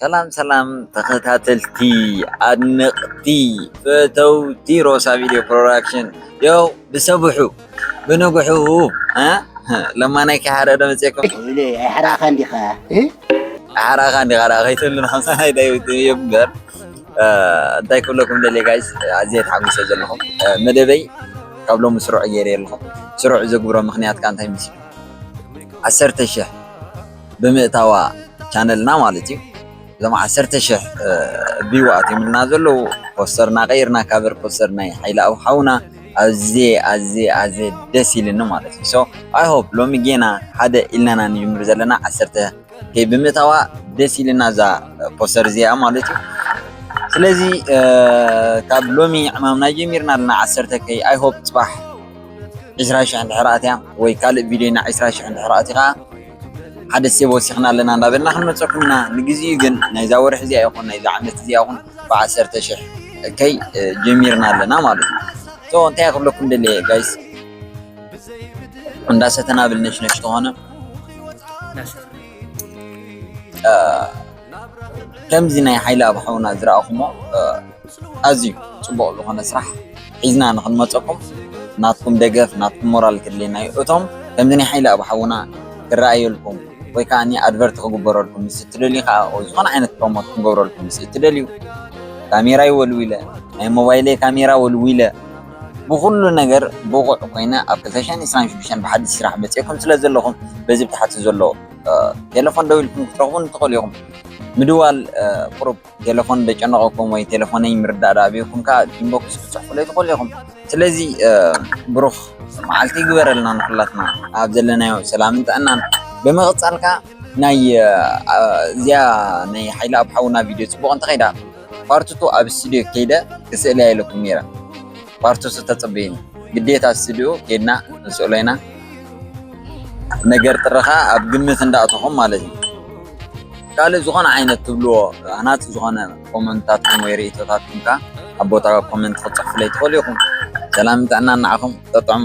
ሰላም ሰላም ተኸታተልቲ ኣድነቅቲ ፈተውቲ ሮሳ ቪድዮ ፕሮዳክሽን ያው ብሰብሑ ብንግሑ ለማናይ ከሓረ ዶ መፅኩም ኣይሓራኻ እንዲኻ ሓራኻ እንዲኻ ዳ ከይትብሉና ናይ ዳዊት እምበር እንታይ ክብለኩም ደልየ ጋይስ ኣዝየ ተሓጒሰ ዘለኹ መደበይ ካብ ሎሚ ስሩዕ ገይረ ኣለኹ ስሩዕ ዘግብሮ ምክንያት ከዓ እንታይ ምስሉ ዓሰርተ ሽሕ ብምእታዋ ቻነልና ማለት እዩ እዞም ዓሰርተ ሽሕ ቪው ኣትዮምልና ዘለዉ ፖስተርና ቀይርና ካቨር ፖስተር ናይ ሓይሊ ኣብ ሓውና ኣዝየ ኣዝየ ኣዝየ ደስ ኢልኒ ማለት እዩ ሶ ኣይ ሆፕ ሎሚ ጌና ሓደ ኢልናና ንጅምር ዘለና ዓሰርተ ከይ ብምእታዋ ደስ ኢልና እዛ ፖስተር እዚኣ ማለት እዩ ስለዚ ካብ ሎሚ ዕማምና ጀሚርና ኣለና ዓሰርተ ከይ ኣይ ሆፕ ፅባሕ ዕስራ ሽሕ እንድሕር ኣትያ ወይ ካልእ ቪድዮና ዕስራ ሽሕ እንድሕር ኣትዩ ከዓ ሓደ ሴብ ወሲኽና ኣለና እንዳበልና ክንመፀኩም ኢና ንግዚኡ ግን ናይዛ ወርሒ እዚኣ ይኹን ናይዛ ዓመት እዚኣ ይኹን ብዓሰርተ ሽሕ እከይ ጀሚርና ኣለና ማለት እዩ ሶ እንታይ ክብለኩም ደለየ ጋይስ እንዳሰተና ብልነሽነሽ ተኾነ ከምዚ ናይ ሓይልኣብ ሓውና ዝረኣኹሞ ኣዝዩ ፅቡቕ ዝኾነ ስራሕ ሒዝና ንኽንመፀኩም ናትኩም ደገፍ ናትኩም ሞራል ከድልየና እዩ። እቶም ከምዚ ናይ ሓይልኣብ ሓውና ክረኣየልኩም ወይ ከዓኒ ኣድቨርቲ ክግበረልኩም ምስ እትደልዩ ከዓ ወይ ዝኾነ ዓይነት ፕሮሞት ክንገብረልኩም ምስ እትደልዩ ካሜራይ ወልዊለ ናይ ሞባይለይ ካሜራ ወልዊለ ብኹሉ ነገር ብቑዕ ኮይነ ኣብ ክልተ ሽሕን ዕስራን ሽዱሽተን ብሓድሽ ስራሕ መፂኤኩም ስለ ዘለኹም በዚ ብታሕቲ ዘሎ ቴለፎን ደዊልኩም ክትረኽቡን ትኽእሉ ኢኹም። ምድዋል ቁሩብ ቴለፎን ደጨነቐኩም ወይ ቴለፎነይ ምርዳእ ዳኣበየኩም ከዓ ኢንቦክስ ክትፅሕፉለይ ትኽእሉ ኢኹም። ስለዚ ብሩኽ መዓልቲ ይግበረልና ንኹላትና ኣብ ዘለናዮ ሰላምን ጥዕናን። ብምቕፃል ከዓ ናይ እዚኣ ናይ ሓይሊ ኣብ ሓውና ቪድዮ ፅቡቕ እንተኸይዳ ፓርትቱ ኣብ ስቱድዮ ከይደ ክስእልያ ኢለኩም ነይረ። ፓርት ቱ ተጸበዩኒ ግዴታ ስትድዮ ኬድና ክንስእሎ ኢና ነገር ትረኻ ኣብ ግምት እንዳእተኹም ማለት እዩ ካልእ ዝኾነ ዓይነት ትብልዎ ሃናጺ ዝኾነ ኮመንታትኩም ወይ ርእይቶታትኩም ከኣ ኣብ ቦታ ኮመንት ክትጽሕፉለይ ትኽእሉ ኢኹም። ሰላምን ጥዕናን ንዓኹም። ጠጥዑሙ።